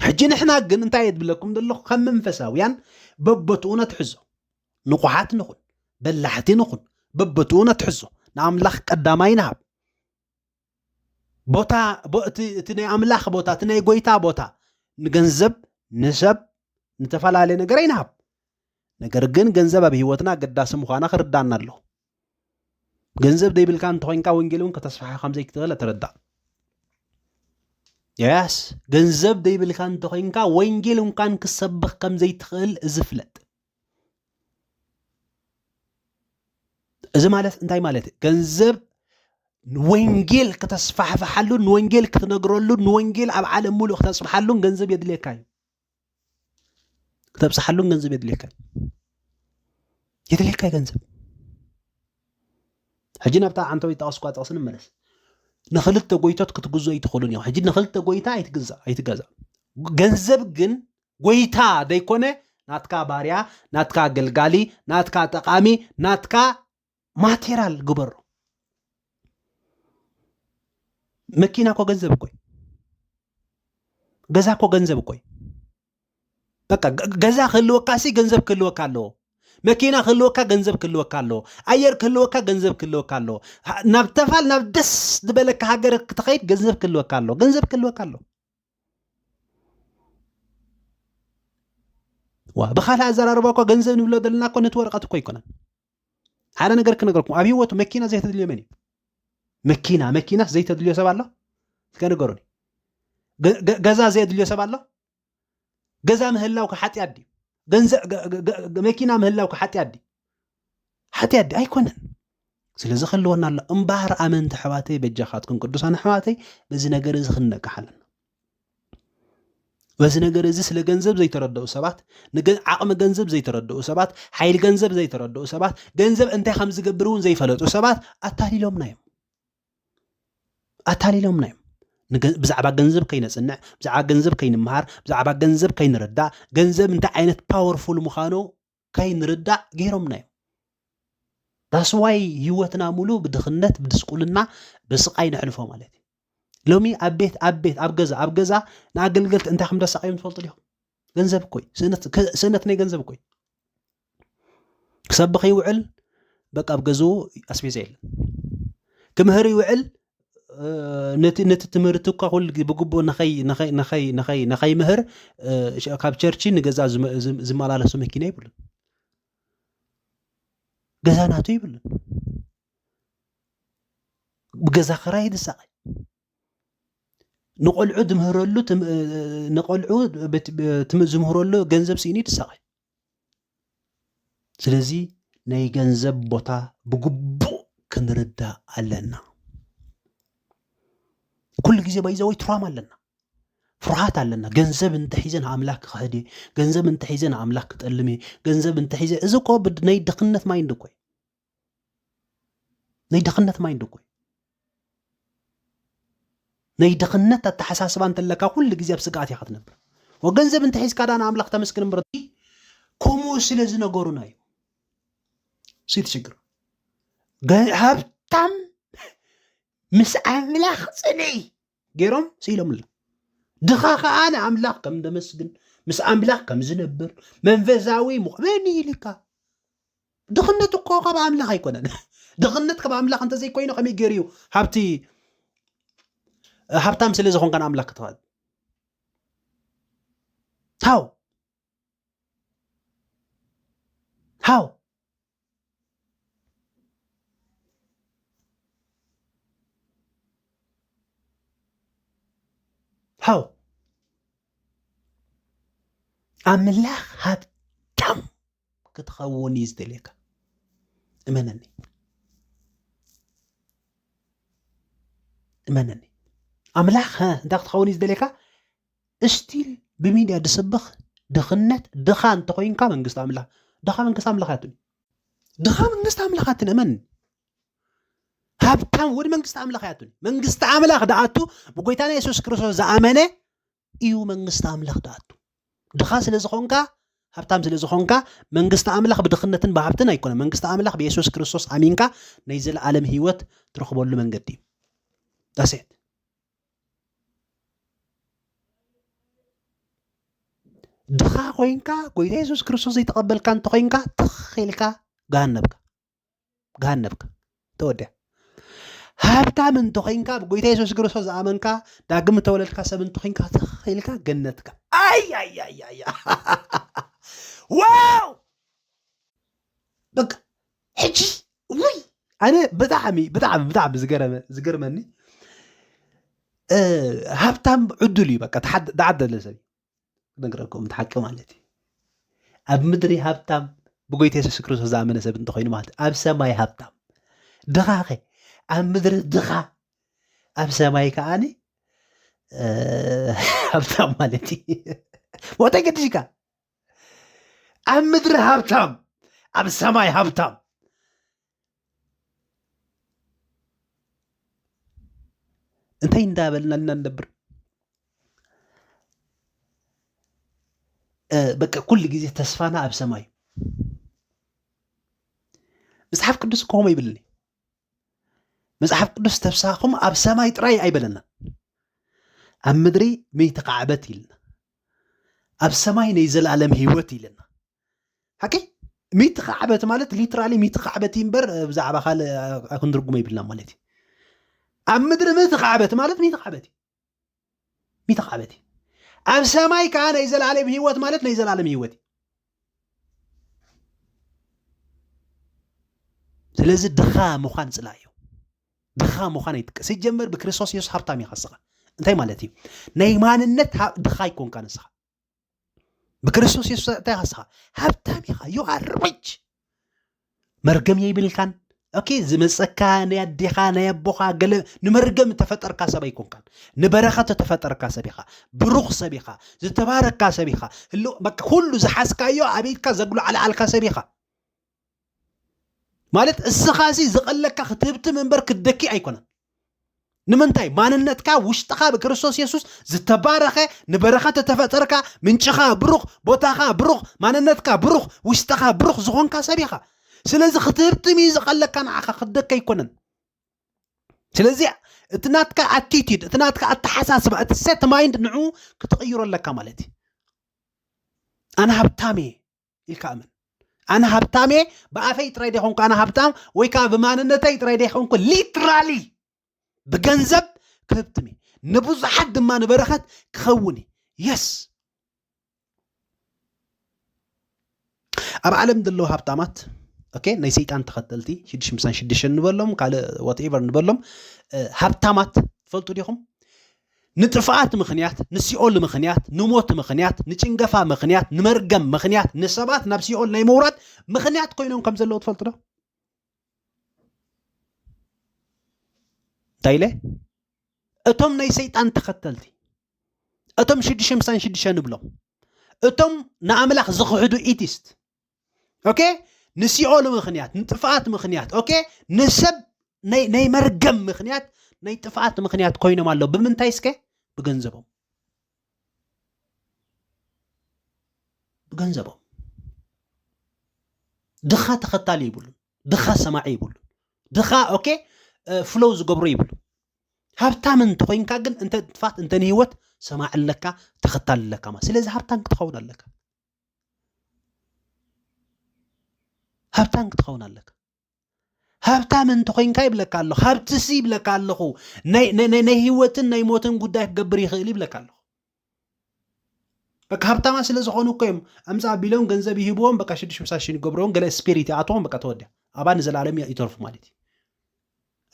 ሕጂ ንሕና ግን እንታይ የድብለኩም ዘለኹ ከም መንፈሳውያን በቦትኡ ነትሕዞ ንቑሓት ንኹን በላሕቲ ንኹን በቦትኡ ነትሕዞ ንኣምላኽ ቀዳማይ ንሃብ ቦታ እቲ ናይ ኣምላኽ ቦታ እቲ ናይ ጎይታ ቦታ ንገንዘብ ንሰብ ንተፈላለየ ነገር ኣይንሃብ ነገር ግን ገንዘብ ኣብ ሂወትና ኣገዳሲ ምዃና ክርዳና ኣለዎ ገንዘብ ዘይብልካ እንተኮይንካ ወንጌል እውን ከተስፋሓ ከምዘይትኽእል ተረዳእ ያስ ገንዘብ ዘይብልካ እንተኮይንካ ወንጌል እንኳን ክሰብኽ ከምዘይትኽእል እዚ ፍለጥ እዚ ማለት እንታይ ማለት እዩ ገንዘብ ወንጌል ከተስፋሕፍሓሉን ንወንጌል ክትነግረሉን ንወንጌል ኣብ ዓለም ሙሉእ ክተፅብሓሉን ገንዘብ የድልየካ እዩ ክተብፅሓሉን ገንዘብ የድልየካ የድልየካ ገንዘብ ሕጂ ናብታ ዓንተወይ ጠቐስኳ ጥቕሲ ንመለስ ንክልተ ጎይቶት ክትግዞ ኣይትኽእሉን እዮም ሕጂ ንክልተ ጎይታ ኣይትግዛ ኣይትገዛ ገንዘብ ግን ጎይታ ዘይኮነ ናትካ ባርያ ናትካ ኣገልጋሊ ናትካ ጠቓሚ ናትካ ማቴራል ግበሮ መኪና እኮ ገንዘብ እኮይ ገዛ እኮ ገንዘብ እኮይ በቃ ገዛ ክህልወካ ሲ ገንዘብ ክህልወካ ኣለዎ መኪና ክህልወካ ገንዘብ ክህልወካ ኣለዎ ኣየር ክህልወካ ገንዘብ ክህልወካ ኣለዎ ናብ ተፋል ናብ ደስ ዝበለካ ሃገር ክትኸይድ ገንዘብ ክህልወካ ኣለዎ ገንዘብ ክህልወካ ኣለዎ ዋ ብካልእ ኣዘራርባ እኳ ገንዘብ ንብሎ ዘለና እኮ ነቲ ወረቐት እኮ ኣይኮነን ሓደ ነገር ክነገርኩም ኣብ ሂወቱ መኪና ዘይተድልዮ መን እዩ መኪና መኪናስ ዘይተድልዮ ሰብ ኣሎ ከነገሩኒ ገዛ ዘየድልዮ ሰብ ኣሎ ገዛ ምህላው ከሓጢያ ድዩ መኪና ምህላው ከሓጢያ ድዩ ሓጢያ ድዩ ኣይኮነን ስለዚ ከለወና ኣሎ እምበሃር ኣመንቲ ኣሕዋተይ በጃኻትኩም ቅዱሳን ኣሕዋተይ በዚ ነገር እዚ ክንነቅሕ ኣለና በዚ ነገር እዚ ስለ ገንዘብ ዘይተረድኡ ሰባት ዓቕሚ ገንዘብ ዘይተረድኡ ሰባት ሓይሊ ገንዘብ ዘይተረድኡ ሰባት ገንዘብ እንታይ ከም ዝገብር እውን ዘይፈለጡ ሰባት ኣታሊሎምና እዮም ኣታሊሎምና እዮም ብዛዕባ ገንዘብ ከይነፅንዕ ብዛዕባ ገንዘብ ከይንምሃር ብዛዕባ ገንዘብ ከይንርዳእ ገንዘብ እንታይ ዓይነት ፓወርፉል ምዃኑ ከይንርዳእ ገይሮምና እዮም። ዳስዋይ ህይወትና ሙሉ ብድኽነት ብድስቁልና ብስቃይ ነሕልፎ ማለት እዩ ሎሚ ኣብ ቤት ኣብ ቤት ኣብ ገዛ ኣብ ገዛ ንኣገልገልቲ እንታይ ከም ደሳቀዮም ትፈልጡ ዲኹም ገንዘብ እኮይ ስእነት ናይ ገንዘብ እኮይ ክሰብኽ ይውዕል በቃ ኣብ ገዝኡ ኣስቤዛ የለን ክምህር ይውዕል ነቲ ነቲ ትምህርቲ እኳ ኩሉ ብግቡእ ንኸይምህር ካብ ቸርቺ ንገዛ ዝመላለሱ መኪና ይብሉን ገዛ ናቱ ይብሉን ብገዛ ክራይ ዝሳቐይ ንቆልዑ ዝምህረሉ ንቆልዑ ዝምህረሉ ገንዘብ ስኢኑ ይሳቐይ ስለዚ ናይ ገንዘብ ቦታ ብግቡእ ክንርዳእ ኣለና። ኩሉ ግዜ ባይዘወይ ትራማ ኣለና ፍርሃት ኣለና ገንዘብ እንተሒዘ ንኣምላክ ክኸሕድ እየ ገንዘብ እንተሒዘ ንኣምላክ ክጠልም እየ ገንዘብ እንተሒዘ እዚ እኮ ናይ ድኽነት ማይንድ እኮ እዩ ናይ ድኽነት ማይንድ እኮ ናይ ድኽነት ኣተሓሳስባ እንተለካ ኩሉ ግዜ ኣብ ስግኣት ኢኻ ትነብር ወገንዘብ እንተሒዝካ ዳ ንኣምላኽ ተመስግን እምበር ከምኡ ስለ ዝነገሩና እዩ ስቲ ችግር ሃብታም ምስ ኣምላኽ ፅልኢ ገይሮም ስኢሎምላ ድኻ ከዓ ንኣምላኽ ከም ደመስግን ምስ ኣምላኽ ከም ዝነብር መንፈሳዊ መን ኢልካ ድኽነት እኮ ካብ ኣምላኽ ኣይኮነን ድኽነት ካብ ኣምላኽ እንተዘይኮይኑ ከመይ ገይሩ እዩ ሃብቲ ሃብታም ስለ ዝኾንካ ንኣምላኽ ክትኸእል ሃው ሃው ሐው ኣምላኽ ሃብታም ክትኸውን እዩ ዝደልየካ እመነኒ እመነኒ ኣምላኽ እንታይ ክትኸውን እዩ ዝደልየካ እስቲል ብሚድያ ድስብኽ ድኽነት ድኻ እንተኾይንካ መንግስቲ ኣምላኽ ድኻ መንግስቲ ኣምላኽ ኣትን ድኻ መንግስቲ ኣምላኽ ኣትን እመን ሃብታም ወድ መንግስቲ ኣምላኽ ኣትን መንግስቲ ኣምላኽ ደኣቱ ብጎይታና የሱስ ክርስቶስ ዝኣመነ እዩ መንግስቲ ኣምላኽ ደኣቱ ድኻ ስለ ዝኾንካ ሃብታም ስለ ዝኾንካ መንግስቲ ኣምላኽ ብድኽነትን ብሃብትን ኣይኮነ መንግስቲ ኣምላኽ ብየሱስ ክርስቶስ ኣሚንካ ናይ ዘለኣለም ህይወት ትረኽበሉ መንገዲ እዩ ዳሴት ድኻ ኮይንካ ጎይታ የሱስ ክርስቶስ ዘይተቐበልካ እንተኾይንካ ትኽ ኢልካ ገሃነብካ ገሃነብካ ተወዲያ ሃብታም እንተኾይንካ ኣብ ጎይታ የሱስ ክርስቶስ ዝኣመንካ ዳግም እተወለድካ ሰብ እንተኾይንካ ትኽ ኢልካ ገነትካ ኣያያያያ ዋው በቃ ሕጂ ውይ ኣነ ብጣዕሚ ብጣዕሚ ብጣዕሚ ዝገረመ ዝገርመኒ ሃብታም ዕዱል እዩ በቃ ተዓደለ ሰብ ነግረኩም እቲ ሓቂ ማለት እዩ ኣብ ምድሪ ሃብታም ብጎይታ የሱስ ክርስቶስ ዝኣመነ ሰብ እንተኮይኑ ማለት ኣብ ሰማይ ሃብታም ድኻኸ ኣብ ምድሪ ድኻ ኣብ ሰማይ ከዓኒ ሃብታም ማለት እዩ ሞታ ገድሽካ ኣብ ምድሪ ሃብታም ኣብ ሰማይ ሃብታም እንታይ እንዳበልና እና ንነብር በቃ ኩሉ ግዜ ተስፋና ኣብ ሰማይ መጽሓፍ ቅዱስ ከምኡ ይብልኒ መጽሓፍ ቅዱስ ተብሳኹም ኣብ ሰማይ ጥራይ ኣይበለና ኣብ ምድሪ ምይተካዕበት ኢልና ኣብ ሰማይ ናይ ዘላለም ህይወት ኢለና ሓቂ ሚቲ ካዕበት ማለት ሊትራሊ ሚቲ ካዕበት እምበር ብዛዕባ ካልእ ክንድርጉሞ ይብልና ማለት እዩ ኣብ ምድሪ ምቲ ካዕበት ማለት ሚቲ ካዕበት እዩ ሚቲ ካዕበት እዩ ኣብ ሰማይ ከዓ ናይ ዘላለም ህይወት ማለት ናይ ዘላለም ህይወት እዩ ስለዚ ድኻ ምዃን ፅላእ እዩ ድኻ ምዃን ኣይጥቀ ሲጀመር ብክርስቶስ የሱስ ሃብታም ኢኻ ንስኻ እንታይ ማለት እዩ ናይ ማንነት ድኻ ኣይኮንካ ንስኻ ብክርስቶስ የሱስ እንታይ ኢኻ ንስኻ ሃብታም ኢኻ ዩ ኣር ሪች መርገም የይብልካን ኦኬ ዝመፀካ ናይ ኣዴኻ ናይ ኣቦኻ ገለ ንመርገም እተፈጠርካ ሰብ ኣይኮንካን ንበረኸት እተፈጠርካ ሰብ ኢኻ ብሩኽ ሰብ ኢኻ ዝተባረካ ሰብ ኢኻ ኩሉ ዝሓዝካዮ ኣቤትካ ዘግሉ ዓልዓልካ ሰብ ኢኻ ማለት እስኻሲ ዝቐለካ ክትህብትም እምበር ክትደኪ ኣይኮነን ንምንታይ ማንነትካ ውሽጥኻ ብክርስቶስ የሱስ ዝተባረኸ ንበረኸት እተፈጠርካ ምንጭኻ ብሩኽ ቦታኻ ብሩኽ ማንነትካ ብሩኽ ውሽጥኻ ብሩኽ ዝኾንካ ሰብ ኢኻ ስለዚ ክትህብትም እዩ ዝቐለካ ንዓኻ ክትደኪ ኣይኮነን ስለዚ እቲ ናትካ ኣቲቲድ እቲ ናትካ ኣተሓሳስባ እቲ ሴት ማይንድ ንዑ ክትቕይሮ ኣለካ ማለት እዩ ኣነ ሃብታም እየ ኢልካ እመን ኣነ ሃብታም እየ ብኣፈይ ጥራይ ደይኮንኩ ኣነ ሃብታም ወይ ከዓ ብማንነተይ ጥራይ ደይኮንኩ ሊትራሊ ብገንዘብ ክህብትም እየ ንብዙሓት ድማ ንበረኸት ክኸውን እየ የስ ኣብ ዓለም ዘለዉ ሃብታማት ኦኬ ናይ ሰይጣን ተኸተልቲ ሽዱሽ ምሳን ሽዱሽን ንበሎም ካልእ ዋትኤቨር ንበሎም ሃብታማት ትፈልጡ ዲኹም ንጥፍኣት ምኽንያት፣ ንሲኦል ምኽንያት፣ ንሞት ምኽንያት፣ ንጭንገፋ ምኽንያት፣ ንመርገም ምኽንያት፣ ንሰባት ናብ ሲኦል ናይ ምውራድ ምኽንያት ኮይኖም ከም ዘለዉ ትፈልጡ ዶ? እንታይ ኢለ? እቶም ናይ ሰይጣን ተኸተልቲ እቶም ሽዱሽተ ምሳን ሽዱሽተ ንብሎም እቶም ንኣምላኽ ዝኽሕዱ ኢቲስት ኦኬ ንሲኦል ምክንያት ንጥፍኣት ምክንያት ኦኬ ንሰብ ናይ መርገም ምክንያት ናይ ጥፍኣት ምክንያት ኮይኖም ኣለዉ ብምንታይ እስከ ብገንዘቦም ብገንዘቦም ድኻ ተኸታሊ ይብሉን ድኻ ሰማዒ ይብሉን ድኻ ኦኬ ፍሎው ዝገብሩ ይብሉ ሃብታም እንተኮይንካ ግን እንተ ጥፋት እንተ ንህይወት ሰማዕ ኣለካ ተኸታሊ ኣለካ ማለት ስለዚ ሃብታም ክትኸውን ኣለካ ሃብታም ክትኸውን ኣለካ ሃብታም እንተኮይንካ ይብለካ ኣለኹ ሃብትሲ ይብለካ ኣለኹ ናይ ህይወትን ናይ ሞትን ጉዳይ ክገብር ይኽእል ይብለካ ኣለኹ በቃ ሃብታማ ስለ ዝኾኑ እኮ እዮም ኣምፃ ቢሎም ገንዘብ ይህብዎም በቃ ሽዱሽ ምሳሽን ይገብርዎም ገለ ስፒሪት ይኣትዎም በቃ ተወዲያ ኣባ ንዘለኣለም ይተርፉ ማለት እዩ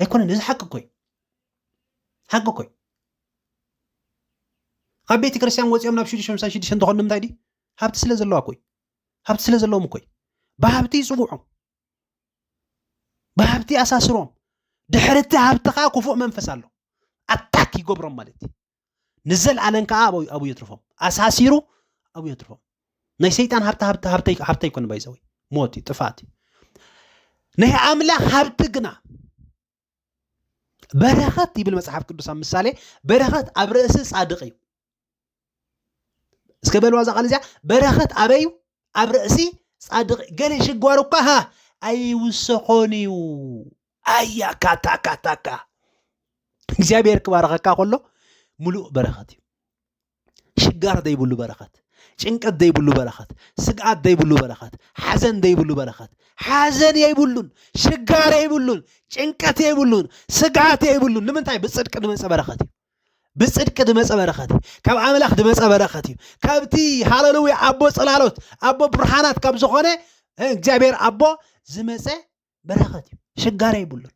ኣይኮነን እዚ ሓቂ ኮይ ሓቂ ኮይ ካብ ቤተ ክርስቲያን ወፂኦም ናብ ሽዱሽተ ምሳን ሽዱሽተ እንተኾኑ ንምንታይ ድዩ ሃብቲ ስለ ዘለዋ ኮይ ሃብቲ ስለ ዘለዎም ኮይ ብሃብቲ ይፅውዖም ብሃብቲ ኣሳስሮም ድሕሪ እቲ ሃብቲ ከዓ ክፉእ መንፈስ ኣሎ ኣታክ ይገብሮም ማለት እዩ ንዘለኣለን ከዓ ኣብኡ የትርፎም ኣሳሲሩ ኣብኡ የትርፎም ናይ ሰይጣን ሃብቲ ሃብቲ ሃብተይ ሃብተይ ኮነ ባይዘወይ ሞት እዩ ጥፋት እዩ ናይ ኣምላኽ ሃብቲ ግና በረኸት ይብል መጽሓፍ ቅዱስ ኣብ ምሳሌ በረኸት ኣብ ርእሲ ጻድቕ እዩ እስከ በልዋ እዛ ቃል እዚኣ በረኸት ኣበይ እዩ ኣብ ርእሲ ጻድቕ ገለ ሽጓሩ እኳ ሃ ኣይውሰኾን እዩ ኣያ ካታካታካ እግዚኣብሔር ክባረኸካ ከሎ ምሉእ በረኸት እዩ ሽጋራ ዘይብሉ በረኸት፣ ጭንቀት ዘይብሉ በረኸት፣ ስግኣት ዘይብሉ በረኸት፣ ሓዘን ዘይብሉ በረኸት። ሓዘን የይብሉን፣ ሽጋር የይብሉን፣ ጭንቀት የይብሉን፣ ስግኣት የይብሉን። ንምንታይ? ብፅድቂ ድመፀ በረኸት እዩ። ብፅድቂ ድመፀ በረኸት እዩ። ካብ ኣምላኽ ድመፀ በረኸት እዩ። ካብቲ ሃለሉዊ ኣቦ ፅላሎት ኣቦ ብርሃናት ካብ ዝኾነ እግዚኣብሔር ኣቦ ዝመፀ በረኸት እዩ ሽጋራ ይብሉን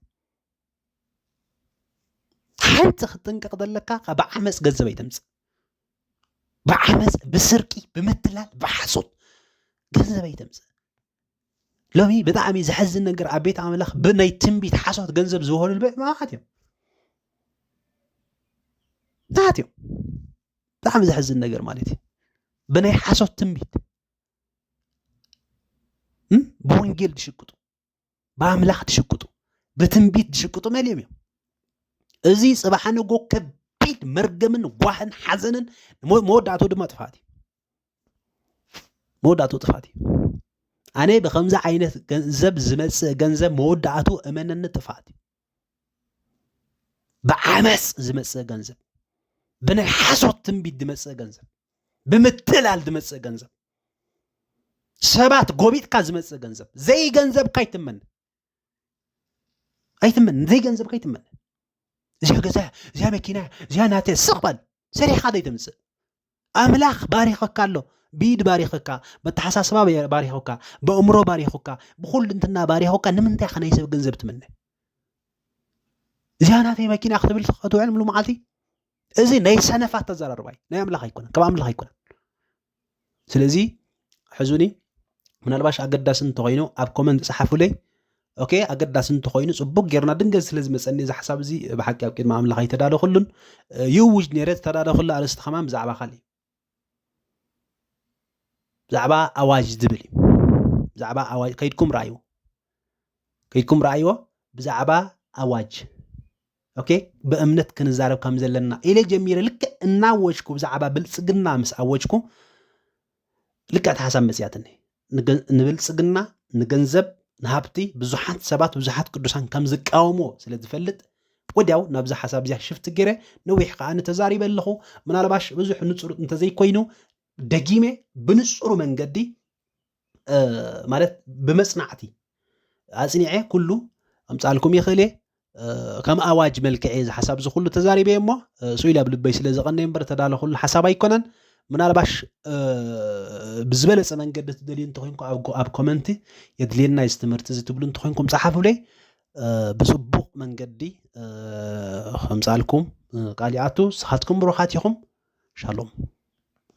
ሓንቲ ክትጥንቀቕ ዘለካ ካብ ዓመፅ ገንዘብ ኣይተምፅእ ብዓመፅ ብስርቂ ብምትላል ብሓሶት ገንዘብ ኣይተምፅእ ሎሚ ብጣዕሚ ዘሕዝን ነገር ኣብ ቤት ኣምላኽ ብናይ ትንቢት ሓሶት ገንዘብ ዝበሉ ልበ ማኻት እዮም ናት እዮም ብጣዕሚ ዘሕዝን ነገር ማለት እዩ ብናይ ሓሶት ትንቢት ብወንጌል ዝሽቅጡ ብኣምላኽ ዝሽቅጡ ብትንቢት ዝሽቅጡ መሊኦም እዮም እዚ ፅባሕ ንጎ ከቢድ መርገምን ጓህን ሓዘንን መወዳእቶ ድማ ጥፋት እዩ መወዳእቶ ጥፋት እዩ ኣነ ብከምዚ ዓይነት ገንዘብ ዝመፅእ ገንዘብ መወዳእቱ እመነኒ ጥፋት እዩ ብዓመፅ ዝመፅእ ገንዘብ፣ ብናይ ሓሶት ትንቢት ዝመፅእ ገንዘብ፣ ብምትላል ዝመፅእ ገንዘብ፣ ሰባት ጎቢጥካ ዝመፅእ ገንዘብ፣ ዘይገንዘብካ ኣይትመን ኣይትመን፣ ዘይገንዘብካ ኣይትመን። እዚኣ ገዛ፣ እዚኣ መኪና፣ እዚኣ ናተ ስቕ በል ሰሪሕኻ ዘይተምጽእ ኣምላኽ ባሪኸካ ኣሎ ብኢድ ባሪኸካ በተሓሳስባ ባሪኸካ በእምሮ ባሪኸካ ብኩልንትና ባሪኸካ ንምንታይ ከ ናይ ሰብ ገንዘብ ትምነ እዚኣ ናተይ መኪና ክትብል ክትውዕል ምሉ መዓልቲ እዚ ናይ ሰነፋት ተዘራርባይ ናይ ኣምላኽ ኣይኮነን ካብ ኣምላኽ ኣይኮነን ስለዚ ሕዙኒ ምናልባሽ ኣገዳሲ እንተኮይኑ ኣብ ኮመንት ጸሓፉለይ ኦኬ ኣገዳሲ እንተኮይኑ ጽቡቅ ጌርና ድንገት ስለ ዝመፀኒ እዚ ሓሳብ እዚ ብሓቂ ኣብ ቅድሚ ኣምላኽ ኣይተዳለኹሉን ይእውጅ ነይረ ዝተዳለኹሉ ኣርእስቲ ከማን ብዛዕባ ካልእ ብዛዕባ ኣዋጅ ዝብል እዩ ብዛዕባ ኣዋጅ ከይድኩም ረኣይዎ ከይድኩም ረኣይዎ ብዛዕባ ኣዋጅ ኦኬ ብእምነት ክንዛረብ ከም ዘለና ኢለ ጀሚረ ልክዕ እናወጅኩ ብዛዕባ ብልፅግና ምስ ኣወጅኩ ልክዕ እቲ ሓሳብ መፅያትኒ ንብልፅግና ንገንዘብ ንሃብቲ ብዙሓት ሰባት ብዙሓት ቅዱሳን ከም ዝቃወምዎ ስለ ዝፈልጥ ወዲያው ናብዛ ሓሳብ እዚኣ ሽፍቲ ገይረ ነዊሕ ከዓ ንተዛሪበ ኣለኹ ምናልባሽ ብዙሕ ንፁር እንተዘይኮይኑ ደጊመ ብንፁሩ መንገዲ ማለት ብመጽናዕቲ ኣጽኒዐ ኩሉ ኣምጻልኩም ይኽእል እየ ከም ኣዋጅ መልክዕ እየ ዝሓሳብ እዚ ኩሉ ተዛሪበ እሞ ስኢል ኣብ ልበይ ስለ ዝቐነ እምበር ተዳለኹሉ ሓሳብ ኣይኮነን ምናልባሽ ብዝበለፀ መንገዲ ትደልዩ እንተኮይንኩ ኣብ ኮመንቲ የድልየና እዚ ትምህርቲ እዚ ትብሉ እንተኮይንኩም ፀሓፉለይ ብፅቡቕ መንገዲ ከምፃልኩም ቃል ይኣቱ ንስኻትኩም ብሩኻት ኢኹም ሻሎም